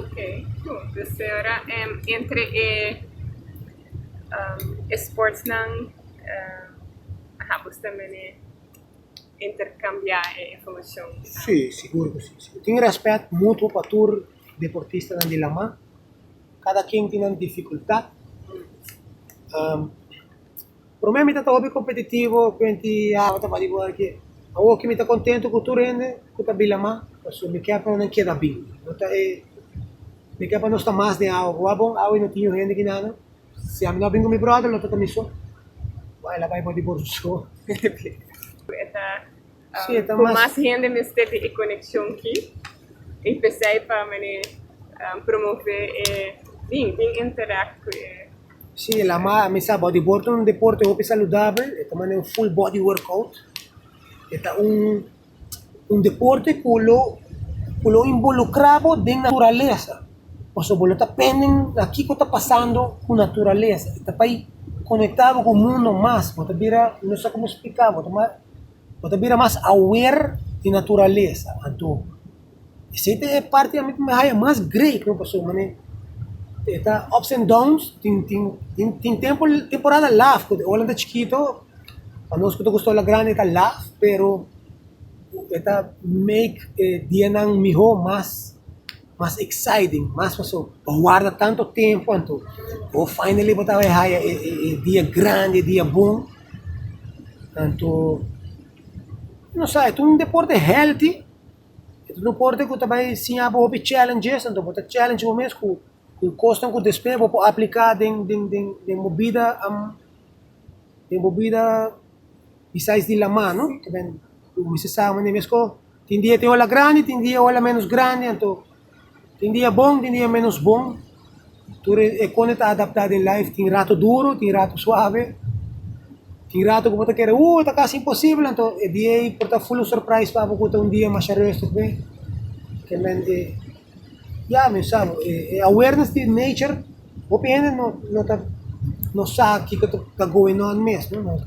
Ok gut dus ora en entre e e sportsnan aha bo sta mene. interkambiá e informashon? Sí, sigur ku sí. Si bo tin rèspèt mutuo pa tur deportistanan di Lamá, kada ken tin nan difikultat. Promé mi ta ta hopi kompetitivo, kuenti awa ta bai di wòrki. Awoki mi ta kontentu ku tur hende ku ta bin Lamá, pasobra mi kè pa nan keda bin. No ta e, mi kè pa nos ta mas den awa, ku wak bon awe no tin yu hende ki nada. Si ami no a bin ku mi bròder lo ta ta mi so. Wai el a bai bou di Borso so. Ku e ta ku mas hende mester di e konekshon ki i p'esei pa mane promove e bin bin interact ku e. Si el a bai mi sa bou di Borso ta un deporte hopi saludabel e ta mane un full body workout e ta un un deporte ku lo ku lo involukrá bo den naturalesa, pasobra bo lo ta pende na kiko ta pasando ku naturalesa, ta bai konektá bo ku mundo mas, bo ta bira no sa komo splikabo bo ta bira mas aware di naturalesa. Esei ta e parti ami ku mi haya mas grei ku mi paso, manera e ta ups and downs, tin tin tin tin tempo temporada laf ku e ola ta chikito, pa nos ku ta gusta ola grandi e ta laf, pero e ta make e dianan miho mas mas exciting, mas paso bo warda tanto tempu anto bo finally bo ta bay haya e e e dia grandi e dia bon, tantu no sa e ta un deporte healthy Deporte ku ta bai siña bo hopi challenges, anto bo ta challenge bo mes ku kosnan ku despues bo por apliká den den den den bo bida den bo bida bisais di la mano, ta ben bo mester sabe manera mes ko tin dia e tin ola grandi tin dia e ola ménos grandi anto Tin dia bon, tin dia ménos bon. Tur e e kòne ta adaptá den laif. Tin ratu duru, tin ratu suave. Tin ratu ku bo ta kere, Uu, ta kasi imposibel! Anto e dia ei por ta ful un surprais pa bo ku ta un dia masha rùstig be. Kialmente, ya mi sa bo, e e awareness di nature, hopi hende no no ta no sa kiko ta ta going on mes, no.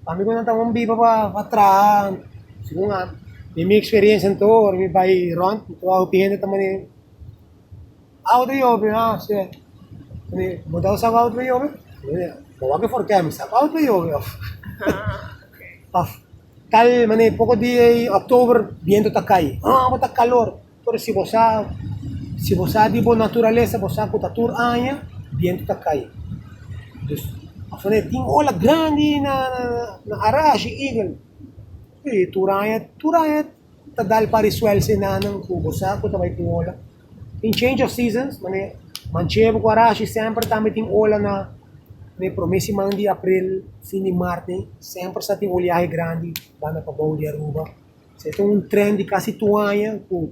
Pa mi ku nan ta un biba pa pa traha segun a den mi eksperensia anto ora mi bai rònt mi ta wak hopi hende ta manier outra yobe mi a se mane bo ta usa ku outra yobe bo wak for kèm mi sa ku outra yobe of of tal mane poko dia i October biento ta kai a bo ta kalor Pero si bo sa, si bo sa di bo naturalesa, bo sa ku ta tur aña bientu ta kai. Dus, afore e tin ola grandi na na Arashi, Eagle, i tur aña, tur aña ta dal pa risuel se nannan ku bo sa ku ta bai tin ola. Tin change of seasons, mane Manchebo ku Arashi semper tambe tin ola na na e promé siman di april, fin di mart ei, semper sa tin oliahe grandi banda pabou di Aruba. Se ta un tren di kasi tu aña ku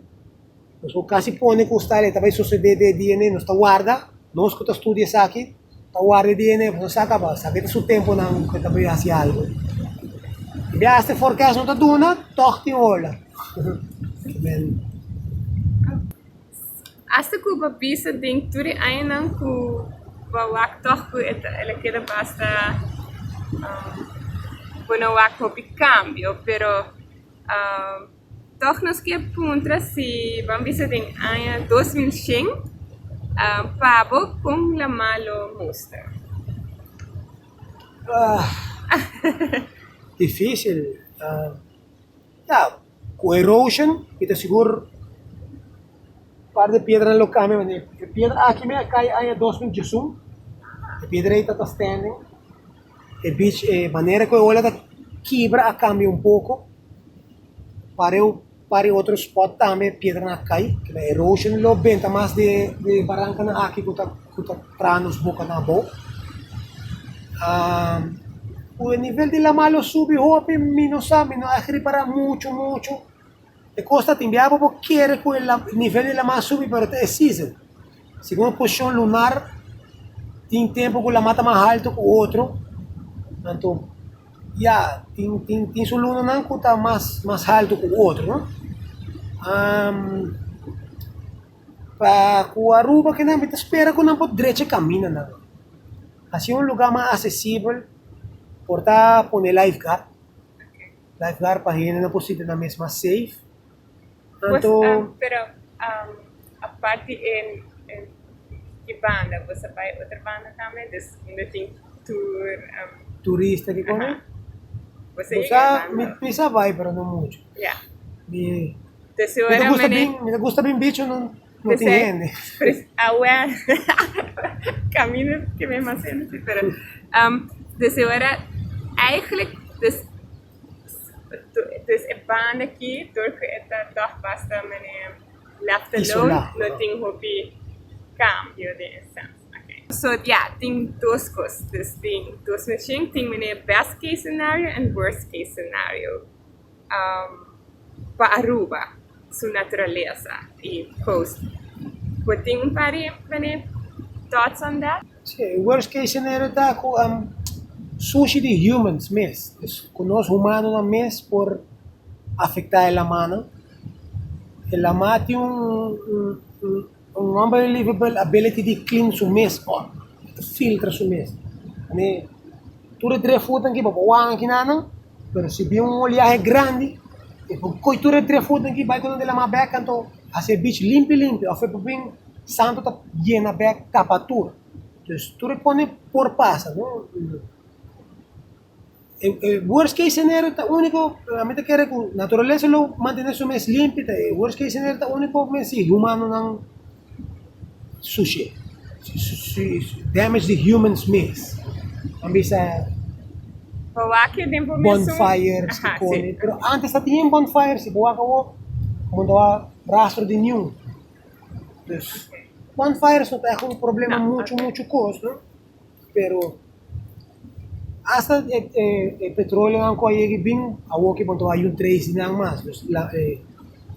nos por kasi pone konstal e ta bai sosede den e DNA. Nos ta warda, nos ku ta studia esaki ta warda e DNA pasobra nos sa kaba sa ke ta su tempunan ku e ta bai hasi algu. Bias te forkes no ta duna, tòg tin ola. Hasta cu bo bisa den tur e añanan cu bo a wak tog cu e ta el a keda basta bo no wak hopi cambio pero tog nos ke puntra si bo a bisa den aña dos mil shen pa bo con la malo muster. Ku erosion mi ta sigur par di piedranan lo kambia pasobra e piedra aki mi a kai aña dos mil diesun e piedra ei tabata stènding e bich e manera ku e ola ta kibra a kambia un poko pare un par di otro spot tambe piedra a kai erosion lo benta mas di barankanan aki ku ta ku ta traha nos boka na abou. Ku e nivel di lama lo subi hopi, mi no sa, mi no a ripará muchu muchu. E kos ta tin biaba bo kere ku e nivel di lama subi pero ta e season. Segun e posishon lunar tin tempu ku lama ta mas haltu ku otro, anto ya tin tin tin su lunanan ku ta mas mas haltu ku otro no. Pa ku Aruba ke nan, mi ta spera ku nan por drecha e kaminda nan. Hasi un lugá mas asesibel, por ta pone life guard, life guard pa hende nan por sinti nan mes mas safe. Anto, turista ki kos, mi sa bai pero no muchu. Mi ta gusta Tesuramene, bin, mi ta gusta bin bicho no tin P'esei, hende. pres- awe, camino ke mi mas hende si, pero, am, des e ora, eigenlijk, des, do- des e banda aki, dor ku e ta tòg bastamene lèf te lou, Isolá. no tin hopi kambio den e sèns, ok. So, ya, tin dos kos, des tin dos machine, tin meneer best case scenario en worst case scenario. pa Aruba su naturalesa y coast bo tin un par di mane thoughts on that? Si, worst case scenario ta cu sushi di humans mes, es cu nos humanonan mes por afecta e lamanan, e lama tin un. Un homber livable ability di clean su mes or filtra su mes. Ami tur e tres foot ki bobo wan ki na nan, pero si bin un oliahe grandi, e por koi tur e tres foot ki bai ku nan di la ma bek anto hasi e beach limpi limpi of e por bin santo ta yena bek tapa tur. Tur e pone por pasa no. E worst case scenario ta úniko, ami ta kere ku naturalesa lo mantené su mes limpi, ta e worst case scenario ta úniko men si humanonan sush'é, si damage di humans mes, nan bisa bonfires kikoni, pero ántes ta tin bonfires i bo wak awo bo no ta wak rastro di niun, dus bonfires no ta un problema muchu muchu kos no. Pero hasta e petroleonan cu a yegi bin, awo ki bon tabata yu tracy nan mas. Dus e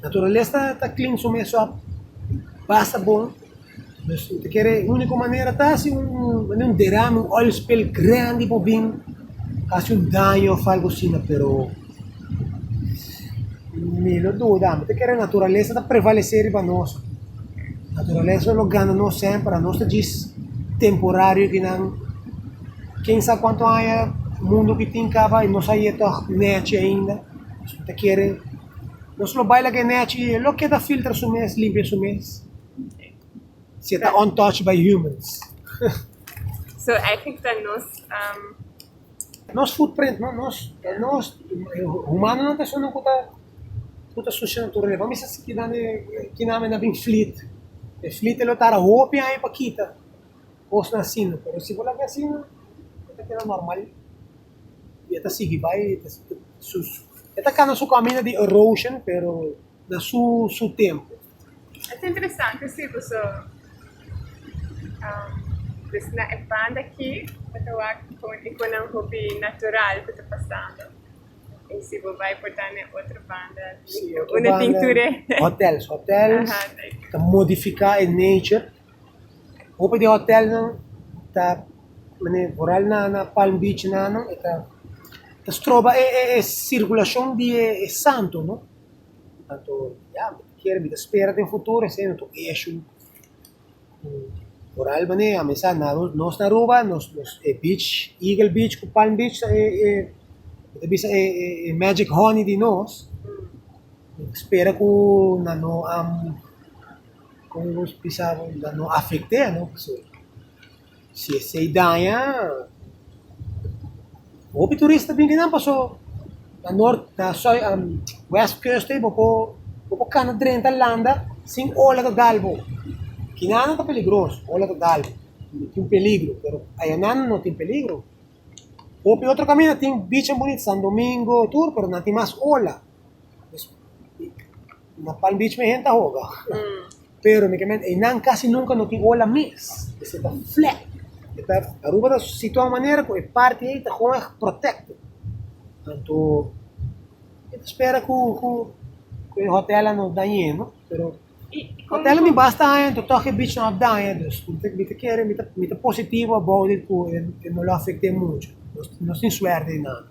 naturalesa ta clean su mes op, basta bon. Dus mi ta kere e unico manera ta haci un derame, un oil spill grandi por bin, haci un daño of algo asina, pero. Mi lo duda, amo ta kere naturalesa ta prevalesé riba nos. Naturalesa lo gana nos semper, a nos ta djis temporario ki nan ken sa kuantu aña mundu ki tin kaba i nos a yei tòg nèchi ainda. So mi ta kere nos lo bai laga e nèchi i e lo keda filtra su mes, limpia su mes, si e ta untouched by humans. Nos footprint, no, nos, e nos, e humanonan personanan ku ta ku ta sucia naturalesa. Pa mester si kita ne kinami na bin fleet. E fleet e lo tarda hopi aña pa kita kosnan asina, pero si bo la ke asina e ta keda normal i e ta sigui bai, e ta sigui su su e ta kanda su kaminda di erosion pero na su su tempu. Es interesante si boso bisa na e banda aki bo ta wak kon e konan hopi natural ku ta pasando y si bo bai por ta na e otro banda un a tin tur e aha te. Anto ya, mi ta kere, mi ta spera den futuro esei no ta un eshu ku por al manera ya mi sa nos na Aruba nos nos e beach, Eagle beach ku Palm beach ta e e mi ta bisa e e magic honey di nos, mi ta spera ku nan no am, komo mi bisa nan no afekte no pasobra. Si esei daña, hopi turista bin di nan paso na nort na soi um west coast ei bo por bo por kana drenta landa sin ola total bo kinan ta peligros ola total bo tin peligro pero ayanan no tin peligro hopi otro kaminda tin beach an bunit San Domingo tur pero nan tin mas ola na Palm Beach mi hen ta hoga. Pero mi ta mira einan casi nunca no tin ola mes, esey ta flat, e ta Aruba ta situa un manera cu e parti ey ta hoger protected, anto mi ta spera cu cu cu e hotel nan no dañe no, pero hotel nan mi basta aña anto toch e beach nan a daña dus mi ta mi ta kere mi ta mi ta positivo about it cu e e no lo afecte mucho, nos tin suerte einan.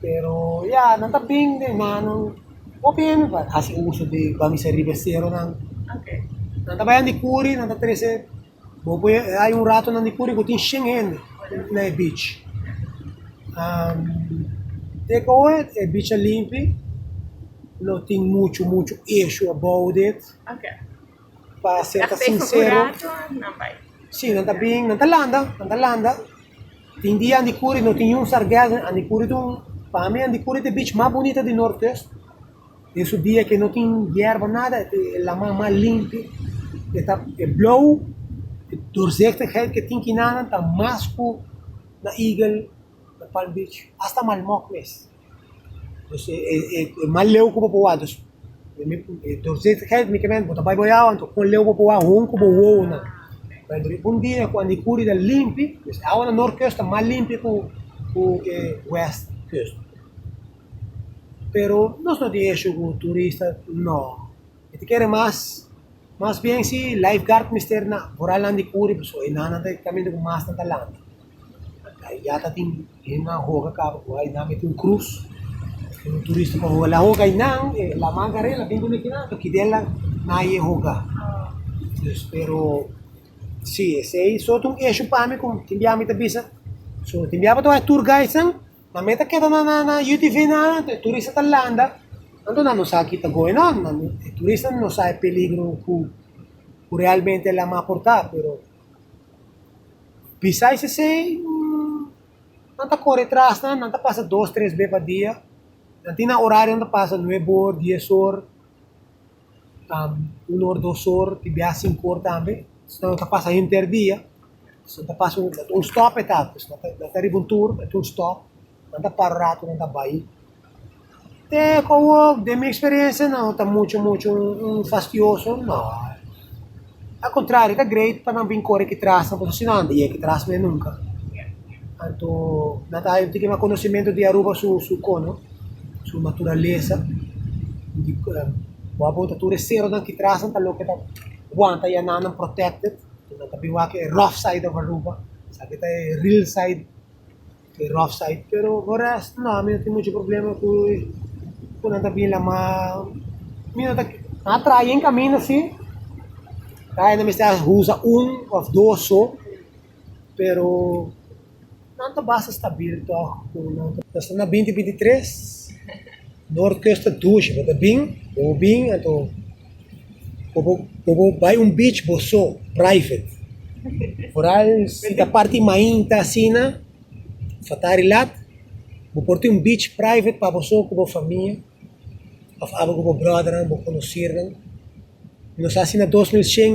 Pero ya, nan ta bin den nannan. Hopi hende ta hasi uso di bamisa riba e seronan. Nan ta bai nan di kuri, nan ta trese, bo poi e hay un rato nan di kuri ku tin shen hende na e beach. Te ku awe e beach a limpi, no tin muchu muchu eshua abou di it. Pa ser ta sincero si nan ta bin nan ta landa nan ta landa tin dia andi curi no tin un sargassum andi curi tin un pa mi andi curi ta beach mas bonito di nortes tin su dia que no tin yerba nada e laman mas limpi e ta e blow e dorzektigheid que tin kinan ta mas cu na eagle na palm beach hasta malmok mes. Pues e mas leu ku bo por wak. Bo ta bai bo yawa anto kon leu bo por wak houn ku bo wowonan. Por ehempel riba un dia ku an'i kuri ta limpi, pues awana North Kust ta mas limpi ku e West Kust. Pero nos no tin ishu ku turista, no. Mi ta kere mas, mas bien si lifeguard mester na, boral nan di kuri pasobra e nannan ta e kaminda ku masnan ta lanta. Ayá ta tin hennan hoga kaba ku Ainá mete un krus. Tin un turista ku a hoga la hoga Ainá, e laman kar'é el a bin kuné kinan, toki del a na e hoga. Pues pero, sí, esei so ta un eshú pa mi ku tin biaha mi ta bisa, so tin biaha mi ta wak e tur gaidsnan, nan me ta keda na na na UTV nan anto e turista ta landa, anto nan no sa ki ta going on, nan no, e turista no sa e peligro ku realmente e laman por ta, pero Bisa es esei, nan ta kore tras nan, nan ta pasa dos, tres be pa dia, nan tin nan orario nan ta pasa nueb or, dies or, tam un or, dos or, ti biaha sinku or tambe, si no nan ta pasa henter dia, si nan ta pasa un stòp e ta, si nan ta riba un tur e ta un stòp, nan ta para un ratu nan ta bai E komo den mi eksperensia no ta muchu muchu fastioso, no. Al kontrario, ta greit pa nan bin kore ki tras nan, pasobra si no a nunka yega ki tras nan nunka. Anto nan ta haña tiki mas konosementu di Aruba su su kono, su naturalesa. Wak bo ta tur e seronan ki tras nan ta loke ta wanta ya nan, nan protèkted. Nan ta bin wak e rof said òf Aruba, esaki ta e ril said. e rough side, pero ora no mi no tin mucho problema cu cu nan ta bin la ma mi no ta nan a traha bien camina si ta hay nan mester a usa un of dos so pero nan ta basta stabil tog cu nan ta nos ta na binti binti tres norte costa dushi bo ta bin bo bin anto Por bo bai un beach bo so, private. Foral si ta parti mainta asina, fatari lat, bo por tin un beach private pa bo so ku bo famia òf aba ku bo bròdernan, bo konosirnan. Nos a hasi na dos mil shen,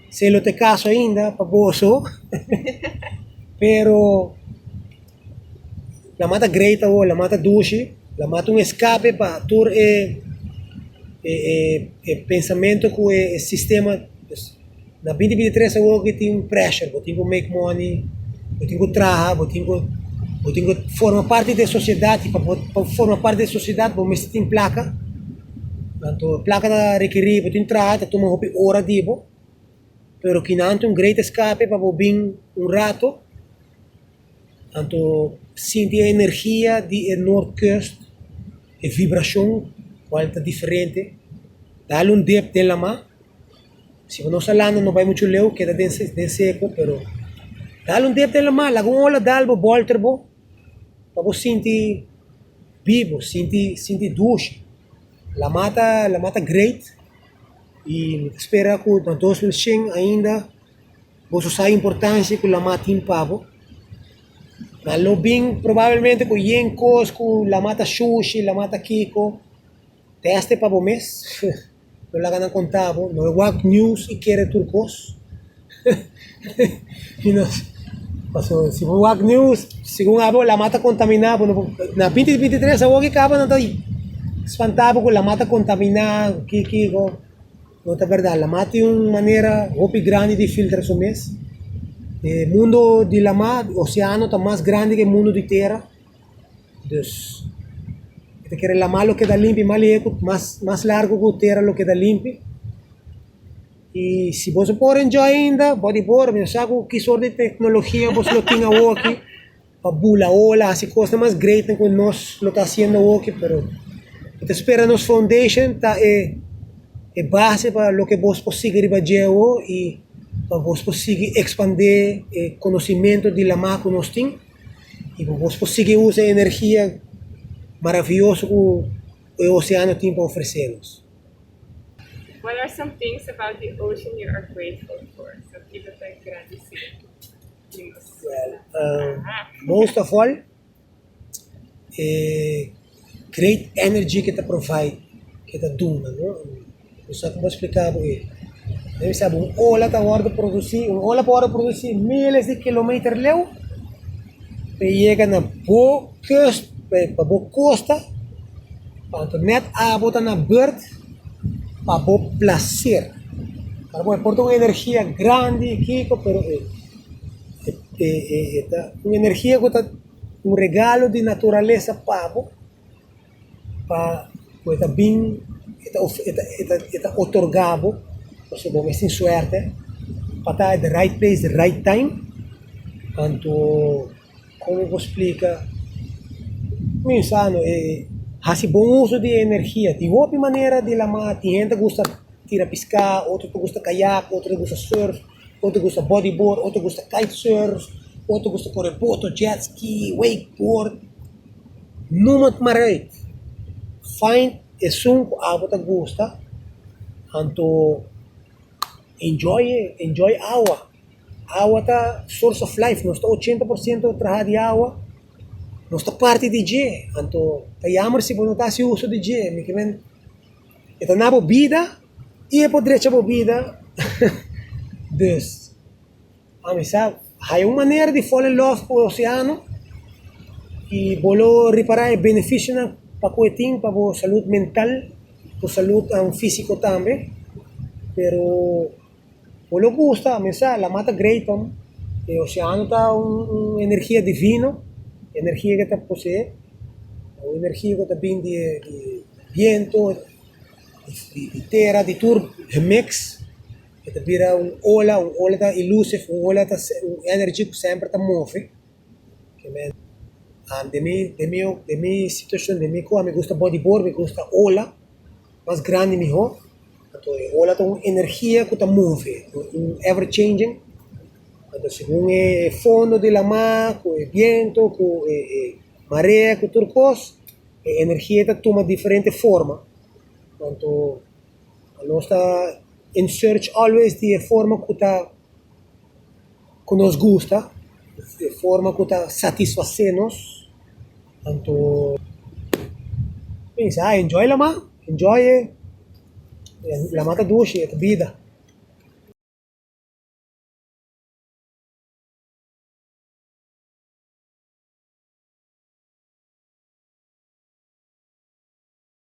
se lo ta e kaso ainda pa bo so pero. La mata great awor, la mata dushi, la mata un escape pa tur e e pensamento cu e sistema, pues na binti binti tres awor cu tin pressure, bo tin cu make money, bo tin cu traha, bo tin cu bo tin cu forma parti den sociedad y pa bo pa bo forma parti den sociedad bo misti tin placa, anto placa ta requiri bo tin traha ta tuma hopi ora di bo, pero kina anto un great escape pa bo bin un rato. Anto sinti e energia di e Noordkust, e vibrashon kual ta diferente, dal un dep den laman, siba nos a landa no bai muchu leu, keda den den seko, pero dal un dep den laman, laga un ola dal bo bolter bo, pa bo sinti bibo, sinti sinti dushi, laman ta laman ta great, y mi ta spera ku na dos mil shen ainda. Boso sa importancia cu lama tin pa bo. Ma lo bin probablemente cu yen cos cu lama ta shushi, lama ta kico, teste pa bo mes, no laga nan conta bo, no wak news y kere tur cos, pasobra si bo wak news segun abo lama ta contamina bo, na binti binti tres awo ki caba nan ta spanta bo cu lama ta contamina, cu ki kico. No ta berdad, lamá tin un manera hopi grandi di filtra su mes. E mundo di lamá, oseano, ta mas grandi ke mundo di tera. Dus, e ta kere lamá lo keda limpi mas lehu, mas largu ku tera lo keda limpi. I si boso por enjoy ainda, bot di bor, mi no sa ku ki sort di teknologia boso lo tin awoki. Pa bula o la hasi cosnan mas greatnan cu nos lo ta haciendo hochi, pero bo ta spera nos foundation ta e e base pa loke bos por sigui riba djeuo y pa bos por sigui expande e conocimento di lama cu nos tin y pa bos por sigui usa e energia maraviyoso cu e oceano tin pa ofrecenos. What are some things about the ocean you are grateful for? Sa kico ta e grandi si? Most of all e great energy ke ta provide ke ta duna no no sa como explica bo e debe di sabi un ola ta wordo produci un ola por wordo produci miles di kilometer leu pa e yega na bo kust pa bo costa pa anto net abo ta na bord. pa bo placer para bo por ta un energia grandi y kiko pero e e e e ta un energia ku ta un regalo di naturalesa pa bo pa ku e ta bin e ta e ta e ta e ta otorga bo pasobra bo mes tin suerte pa ta at de rite place de rite time anto. Como bo splica minsano e haci bon uso di energia tin hopi manera di la mar tin hende gusta tira pisca otro ta gusta kayak otro ta gusta surf otro ta gusta body board otro ta gusta kite surf otro ta gusta kore boto jet ski wake board noem it ma rei find esun cu abo ta gusta anto enjoy e enjoy awa. Awa ta source of life, nos ta ochenta por siento traha di awa, nos ta parti di dje, anto ta yammer si bo no ta hasi uso di dje, mi ke men e ta na bo bida y e por drecha bo bida, dus ami sa haya un manera di fall in love cu e oceano y bo lo repara e beneficionan pa cu e tin pa bo salud mental, bo salud fisico tambe, pero. Bo lo gusta, a misa, la mar ta great ò no, e oceano ta un un energia divino, energia ke ta pose'e, un energia ku ta bini di e di biento, di di tera, di tur remix, e ta bira un ola, un ola ta elusive, un ola ta se un energy ku semper ta move, kimen demi demi demi situashon demi ku a mi gusta bodibor, mi gusta ola Mas grandi mihó. Anto e ola ta un energia ku ta move, un ever changing, anto segun e fondo di lamar ku e biento ku e e marea ku tur kos e energia ta tuma diferente forma, anto nos ta in search always di e forma ku ta ku nos gusta, e forma ku ta satisfasé nos. Anto mi bisa, enjoy la man, enjoy e, la man ta dushi, e ta bida.